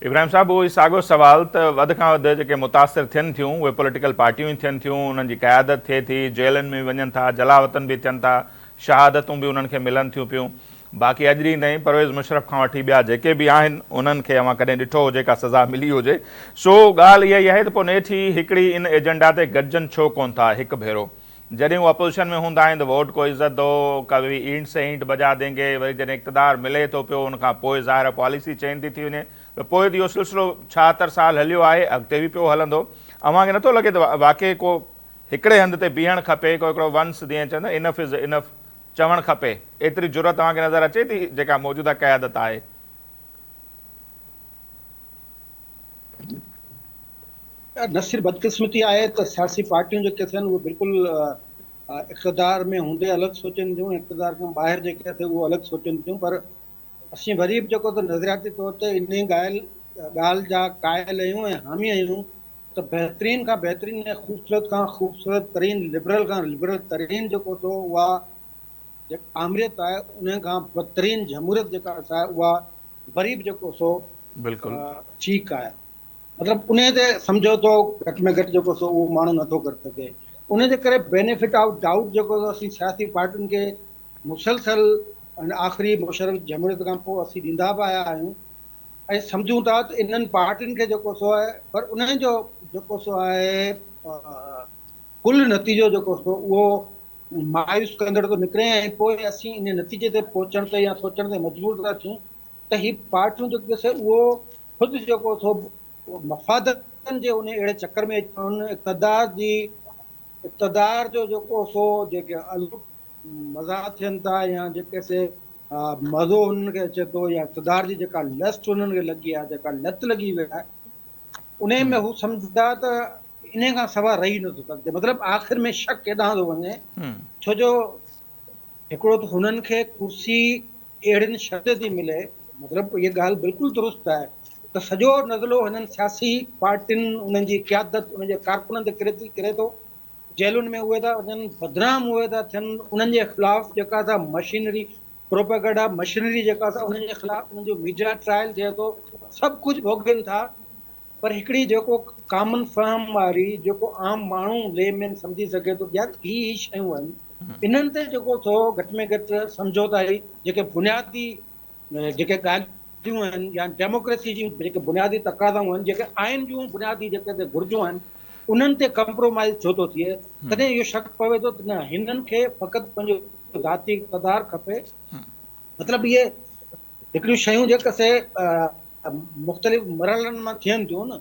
ابراهيم صاحب اهو ئي ساڳيو سوال ته وڌ کان وڌ جيڪي متاثر ٿين ٿيون اهي پوليٽيڪل پارٽيون ئي ٿين ٿيون انهن جي قيادت ٿئي ٿي جيلن ۾ به وڃن ٿا جلاوطن به ٿين ٿا شهادتون به انهن کي ملن ٿيون پيون باقي اڄ ڏينهن تائين پرويز مشرف کان وٺي ٻيا جيڪي به آهن انهن کي اوهان ڪڏهن ڏٺو هجي ڪا سزا ملي هجي سو ڳالهه اها ئي آهي ته پوء نيٺ هي هڪڙي ان ايجنڊا تي گڏجن ڇو ڪون ٿا هڪ ڀيرو جڏهن هو اپوزيشن ۾ هوندا آهن ته ووٽ ڪو عزت دو ڪبي اينٽ سي اينٽ بجا دينگي وري جڏهن اقتدار ملي ٿو پيو ان کان پوء ظاهر پاليسي چينج ٿي ٿي وڃي ته پوء ته اهو سلسلو ڇاهتر سال هليو آهي اڳتي به پيو هلندو اوهان کي نٿو لڳي ته واقعي ڪو هڪڙي هنڌ تي بيهڻ کپي ڪو هڪڙو ونس جيئن چون ٿا انف از انف چوڻ کپي ايتري جرئت اوهان کي نظر اچي ٿي جيڪا موجوده قيادت آهي. نه صرف بدقسمتي آهي ته سياسي پارٽيون جيڪي اٿن اهي بلڪل اقتدار ۾ هوندي الڳ سوچين ٿيون اقتدار کان ٻاهر جيڪي اٿي اهو الڳ سوچين ٿيون پر اسين وري به جيڪو ته نظرياتي طور تي ان ڳالهه ڳالهه جا قائل آهيون ۽ حامي آهيون ته بهترين کان بهترين ۽ خوبصورت کان خوبصورت ترين لبرل کان لبرل ترين جيڪو ٿو اها آمريت آهي ان کان بدترين جمهوريت جيڪا اها غريب جيڪو سو بلڪل. ٺيڪ آهي مطلب انهي تي سمجهوتو گهٽ ۾ گهٽ جيڪو سو اهو ماڻهو نٿو ڪري سگهي انهي جي ڪري بينيفٽ آف ڊائوٽ جيڪو اسين سياسي پارٽين کي مسلسل ان آخري مشرف جمهوريت کان پوء اسين ڏيندا به آيا آهيون ۽ سمجهون ٿا ته انهن پارٽين کي جيڪو سو آهي پر انهن جو جيڪو سو آهي ڪل نتيجو جيڪو ٿو اهو مايوس ڪندڙ ٿو نڪري ۽ پوء اسين ان نتيجي تي پهچڻ تي يا سوچڻ تي مجبور ٿا ٿيون ته هي پارٽيون جيڪو سي اهو خود جيڪو ٿو مفادن جي ان اهڙي چڪر ۾ ان اقتدار جي اقتدار جو جيڪو سو جيڪي مزا ٿين ٿا يا جيڪي سي مزو هنن کي اچي ٿو يا اقتدار جي جيڪا لسٽ هنن کي لڳي آهي جيڪا لت لڳي وئي آهي انهيء ۾ هو سمجهندا ته انهيء کان سواء رهي نه ٿو سگهجي. مطلب آخر ۾ شڪ ايڏانهن ٿو وڃي، ڇو جو هڪڙو ته هنن کي ڪرسي اهڙين شرطين تي ملي، مطلب اها ڳالهه بلڪل درست آهي ته سڄو نزلو هنن سياسي پارٽين، انهن جي قيادت، انهن جي ڪارڪنن تي ڪري ٿو، جيلن ۾ اهي ٿا وڃن، بدنام اهي ٿا ٿين، انهن جي خلاف جيڪا سا مشينري پروپيگنڊا مشينري جيڪا سا انهن جي خلاف انهن جو ميڊيا ٽرائل ٿئي ٿو سڀ ڪجهه ڀوڳين ٿا پر هڪڙي جيڪو ڪامن فهم واري جيڪو عام ماڻهو لي مين سمجهي سگهي ٿو يا هي هي شيون آهن انهن تي جيڪو ٿو گهٽ ۾ گهٽ سمجهوتا هي جيڪي بنيادي جيڪي ڳالهيون گهرجون آهن يا ڊيموڪريسي جون جيڪي بنيادي تقاضائون آهن، جيڪي آئين جون بنيادي جيڪي تي گهرجون آهن، انهن تي ڪمپرومائيز ڇو ٿو ٿئي؟ تڏهن اهو شڪ پوي ٿو ته نه هنن کي فقط پنهنجو ذاتي اقتدار کپي. مطلب اهي هڪڙيون شيون جيڪي سي مختلف مرحلن مان ٿين ٿيون نه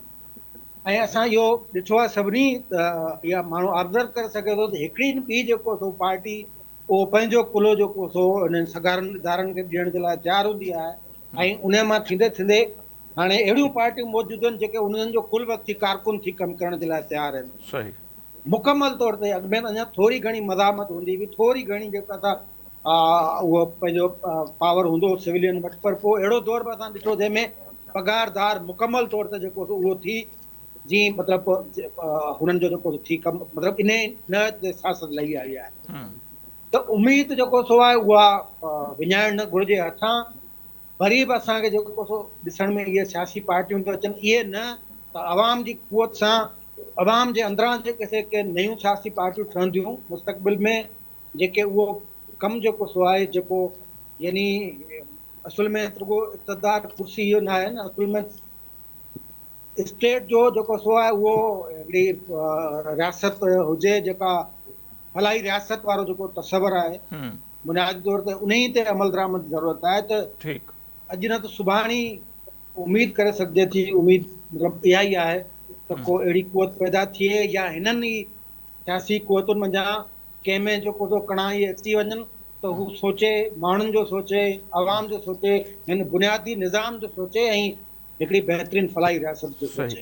۽ اسان اهو ڏٺو آهي سڀني اها ماڻهو آبزرو ڪري سگهي ٿو ته هڪڙي نه ٻي جيڪو سو پارٽي اهو پنهنجو قلعو جيڪو سو انهن سگهارن ادارن کي به ڏيڻ جي لاء تيار هوندي آهي ۽ انهي مان ٿيندي ٿيندي هاڻي اهڙيون پارٽيون موجود آهن جيڪي انهن جو ڪل وقتي ڪارڪن ٿي ڪم ڪرڻ جي لاء تيار آهن. صحيح. مڪمل طور تي اڳ ۾ اڃا ٿوري گهڻي مزاحمت هوندي هئي ٿوري گهڻي جيڪو اسان اهو پنهنجو پاور هوندو هو سولين وٽ پر پوء اهڙو دور به اسان ڏٺو جنهن ۾ پگهار دار مڪمل طور تي جيڪو سو اهو ٿي جي مطلب هنن جو جيڪو ٿي ڪم مطلب انهي نه سياست لهي آئي آهي ته اميد جيڪو سو آهي اها وڃائڻ نه گهرجي هٿان وري به اسان کي جيڪو سو ڏسڻ ۾ اهي سياسي پارٽيون ٿيون اچن اهي نه ته عوام جي قوت سان عوام جي اندران جيڪي سي ڪي نيون سياسي پارٽيون ٺهنديون مستقبل ۾ جيڪي اهو ڪم جيڪو سو آهي جيڪو يعني اصل ۾ رڳو اقتدار ڪرسي اهو نه آهي نه اصل ۾ اسٽيٽ جو جيڪو سو آهي اهو هڪڙي رياست هجي جيڪا فلاحي رياست وارو جيڪو تصور آهي بنيادي طور تي انهي تي عمل درآمد جي ضرورت آهي ته اڄ نه ته سڀاڻي اميد ڪري سگهجي ٿي اميد مطلب اها ئي آهي ته ڪو اهڙي قوت پيدا ٿئي يا هنن ئي سياسي قوتن منجهان ڪنهن ۾ جو ڪوڏو ڪڻائي اچي وڃن ته هو سوچي، ماڻهن جو سوچي، عوام جو سوچي، هن بنيادي نظام جو سوچي ۽ هڪڙي بهترين فلاحي رياست جو سوچي.